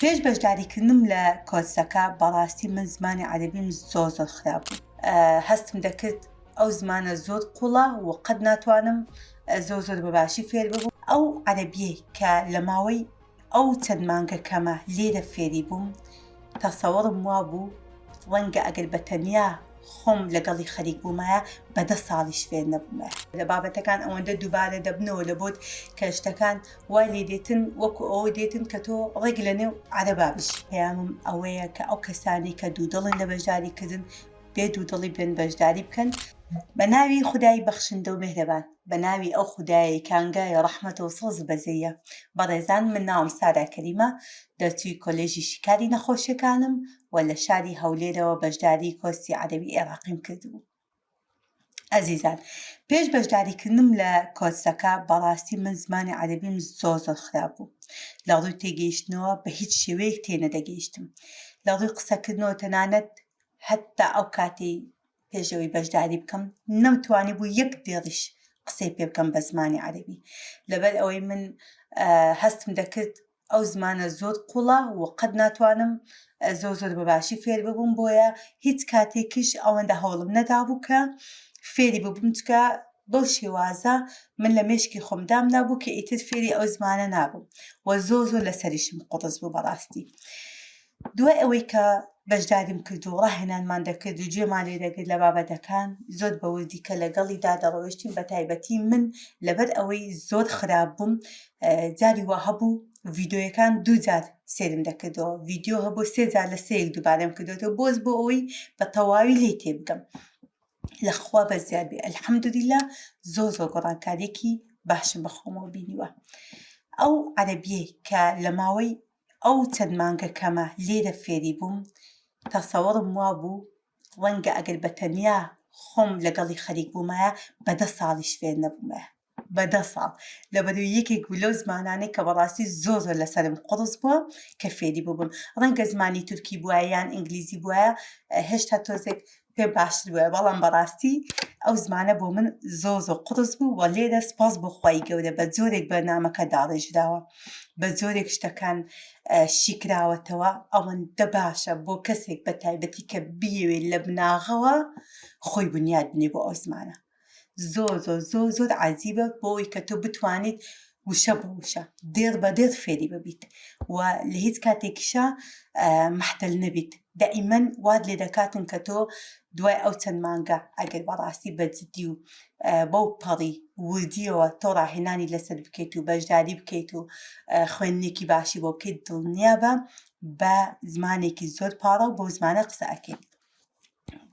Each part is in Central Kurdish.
پێش بەژداریکردنم لە کۆرسەکە بەڕاستی من زمانی عەرەبیم زۆر زۆر خراپ بوو هەستم دەکرد ئەو زمانە زۆر قوڵە و قەت ناتوانم زۆر زۆر بەباشی فێر ببوو ئەو عەرەبیەی کە لە ماوەی ئەو چەند مانگە کەمە لێرە فێری بووم تەسەوەڕم وا بوو ڕەنگە ئەگەر بە تەنیا خۆم لەگەڵی خەریک بوومایە بەدە ساڵیش فێر نەبوومە لە بابەتەکان ئەوەندە دووبارە دەبنەوە لە بۆت کە شتەکان وای لێ دێتن وەکو ئەوە دێتن کە تۆ ڕێک لە نێو عەرەبا بژی. پەیامم ئەوەیە کە ئەو کەسانەی کە دوودڵن لە بەشداری کردن، بێ دوودڵی بێن بەشداری بکەن. بە ناوی خودای بەخشندە و مێهرەبان. بە ناوی ئەو خودایەی کە ئانگای ڕەحمەت و سۆز و بەزەییە. بەڕێزان من ناوم سارا کەریمە، دەرچووی کۆلێژی شیکاری نەخۆشیەکانم و لە شاری هەولێرەوە بەشداری کۆرسی عەرەبی ئێراقیم کردبوو. ئەزیزان پێش بەشداریکردنم لە کۆرسەکە بەڕاستی من زمانی عەرەبیم زۆر زۆر خراپ بوو لە ڕووی تێگەیشتنەوە بە هیچ شێوەیەک تێنەدەگەیشتم لە ڕووی قسەکردنەوە تەنانەت هەتا ئەو کاتی پێشەوەی بەشداری بکەم نەمتوانی بوو یەک دێڕیش قسەی پێ بکەم بە زمانی عەرەبی لەبەر ئەوەی من هەستم دەکرد ئەو زمانە زۆر قوڵە و قەت ناتوانم زۆر زۆر بەباشی فێر ببووم بۆیە هیچ کاتێکیش ئەوەندە هەوڵم نەدابوو کە فێری ببووم چکە بەو شێوازە من لە مێشکی خۆم دامنابوو کە ئیتر فێری ئەو زمانە نابووم و زۆ زۆر لەسەریشم قوڕس بوو بەڕاستی. دوای ئەوەی کە بەشداریم کرد و ڕاهێنانمان دەکرد و گوێمان لێ دەگرت لە بابەتەکان، زۆر بە وردی کە لەگەڵیدا دەڕۆیشتین، بەتایبەتی من لەبەر ئەوەی زۆر خراپ بووم، جاری وا هەبوو ڤیدیۆیەکان دوو جار سێرم دەکردەوە، ڤیدیۆ هەبوو سێ جار لە سێیەک دووبارەم کردۆتەوە، بۆز بۆ ئەوەی بە تەواوی لێی تێ بگەم. لە خوا بەس زیاد بێ ئەلحەمدولیلا زۆر زۆر گۆڕانکاریەکی باشم بە خۆمەوە بینیوە. ئەو عەرەبیەی کە لە ماوەی ئەو چەند مانگە کەمە لێرە فێری بووم تەسەوڕم وابوو ڕەنگە ئەگەر بە تەنیا خۆم لەگەڵی خەریک بوومایە بە دە ساڵیش فێر نەبوومایە بە دە ساڵ لەبەرو یەکێک بوو لەو زمانانەی کە بەڕاستی زۆر زۆر لەسرم قوڕس بووە کە فێری ببم ڕەنگە زمانی تورکی بووە یان ئینگلیزی بووە هێشتا تۆزێک پێ باشتر بوایە بەڵام بەڕاستی ئەو زمانە بۆ من زۆ زۆ قڕس بوو وە لێرە سپاس بۆ خی گەورە بە جۆرێک بەرنمەکە داڕێژراوە بە جۆرێک شتەکان شیکراوەتەوە ئەوەندە باشە بۆ کەسێک بە تایبەتی کە بیەوێت لە بناغەوە خۆی بنیاد بنێ بۆ ئەو زمانە زۆر زۆر زۆر زۆر عجیبە بۆی کە تۆ بتوانیت وشە بۆ وشە دێڕ بە دێر فێری ببیت و لە هیچ کاتێکیشە محتل نەبیت دائیمەن واد لێ دەکاتن کە تۆ دوای ئەو چەند مانگە ئەگەر بەڕاستی بەجددی و بەو پەڕی وردیەوە تۆ ڕاهێنانی لەسەر بکەیت و بەشداری بکەیت و خوێندنێکی باشی بۆ بکەیت دڵنیا بە بە زمانێکی زۆر پاڕە و بۆ زمانە قسە ئەکەیت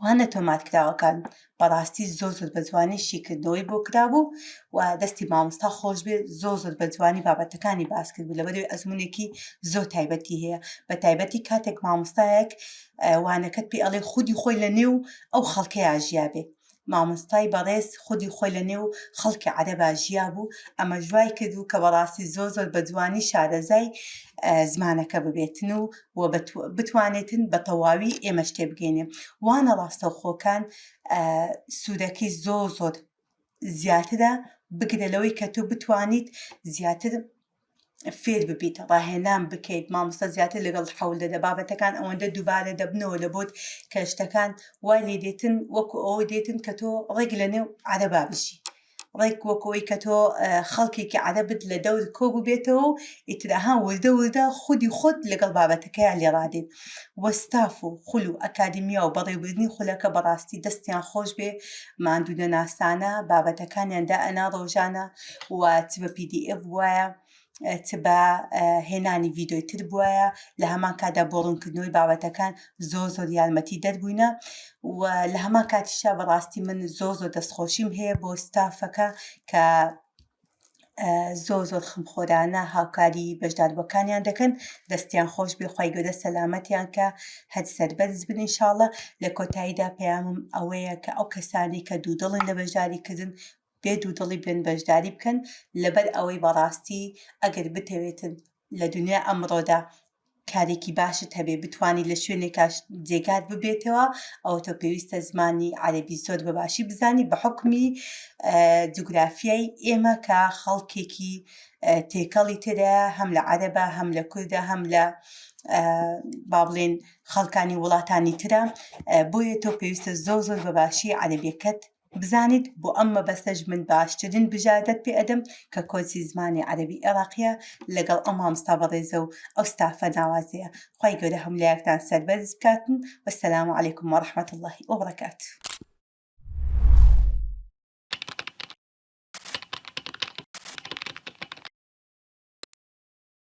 وانە تۆمارکراوەکان بەڕاستی زۆر زۆر بە جوانی شیکردنەوەی بۆ کرابوو و دەستی مامۆستا خۆش بێت زۆر زۆر بە جوانی بابەتەکانی باس کرد بوو لەبەروی ئەزمونێکی زۆر تایبەتی هەیە بە تایبەتی کاتێک مامۆستایەک وانەکەت پێ ئەڵێ خودی خۆی لە نێو ئەو خەڵکەیە ژیابێ مامۆستای بەڕێز خودی خۆی لە نێو خەڵکی عەرەبا ژیابوو ئەمەش وای کردوو کە بەڕاستی زۆر زۆر بە جوانی شارەزای زمانەکە ببێتن و و بتوانێتن بە تەواوی ئێمەش تێبگەینێ وانە ڕاستەوخۆکان سوودەکەی زۆر زۆر زیاترە بگرە لەوەی کە تۆ بتوانیت زیاتر فێر ببیت ڕاهێنان بکەیت مامۆستا زیاتر لەگەڵ حەول دەدە بابەتەکان ئەوەندە دووبارە دەبنەوە لە بۆت کە شتەکان وای لێ دێتن وەکو ئەوە دێتن کە تۆ ڕێک لە نێو عەرەبا بژی ڕێک وەکەوەی کە تۆ خەڵکێکی عەرەبت لە دەور کۆ ببێتەوە و ئیتراها وردە وردە خودی خۆت لەگەڵ بابەتەکەیان لێڕادێت وەستاف و خول و ئەکادیمیا و بەڕێوبردننی خولەکە بەڕاستی دەستیان خۆش بێ ماندوو نەناسانە بابەتەکانیان دا ئەنا ڕۆژانە و چ بە پی دی ئێف بوایە چ بە هێنانی ڤیددیوی تر بوایە لە هەمان کادا بۆ ڕوونکردنەوەی بابەتەکان زۆ زۆر یارمەتی دەربووینە و لە هەمان کاتیشا بەڕاستی من زۆ زۆر دەستخۆشیم هەیە بۆ ستافەکە کە زۆ زۆر خمخۆرانە هاوکاری بەشداربەکانیان دەکەن دەستیان خۆش بێخوای گەدە سەلامەتیان کە هەر سەربەرز بن انشاءله لە کۆتاییدا پەیامم ئەوەیە کە ئەو کەسانی کە دوودڵن لە بەشداریکردن بێ دوودڵی بێن بەشداری بکەن لەبەر ئەوەی بەڕاستی ئەگەر بتەوێتن لە دونیای ئەمڕۆدا کارێکی باشت هەبێ بتوانی لە شوێنێکا جێگات ببێتەوە ئەوە تۆ پێویستە زمانی عەرەبی زۆر بە باشی بزانی بە حکمی جوگرافیای ئێمە کە خەڵکێکی تێکەڵی تێدا هەم لە عەرەبە هەم لە کوردە هەم لە با بڵێن خەڵکانی وڵاتانی ترە بۆیە تۆ پێویستە زۆر زۆر بە باشی عەرەبیەکەت بزانیت بۆ ئەم مەبەستەش من باشترین بژاردەت پێ ئەدەم کە کۆرسی زمانی عەرەبی عێڕاقیە لەگەڵ ئەو مامۆستا بەڕێزە و ئەو ستافە ناوازەیە خوای گەورە هەموو لایەکتان سەربەرز بکاتن وەسەلام علیکم وەڕەحمەت اللە وبەڕەکاتوو.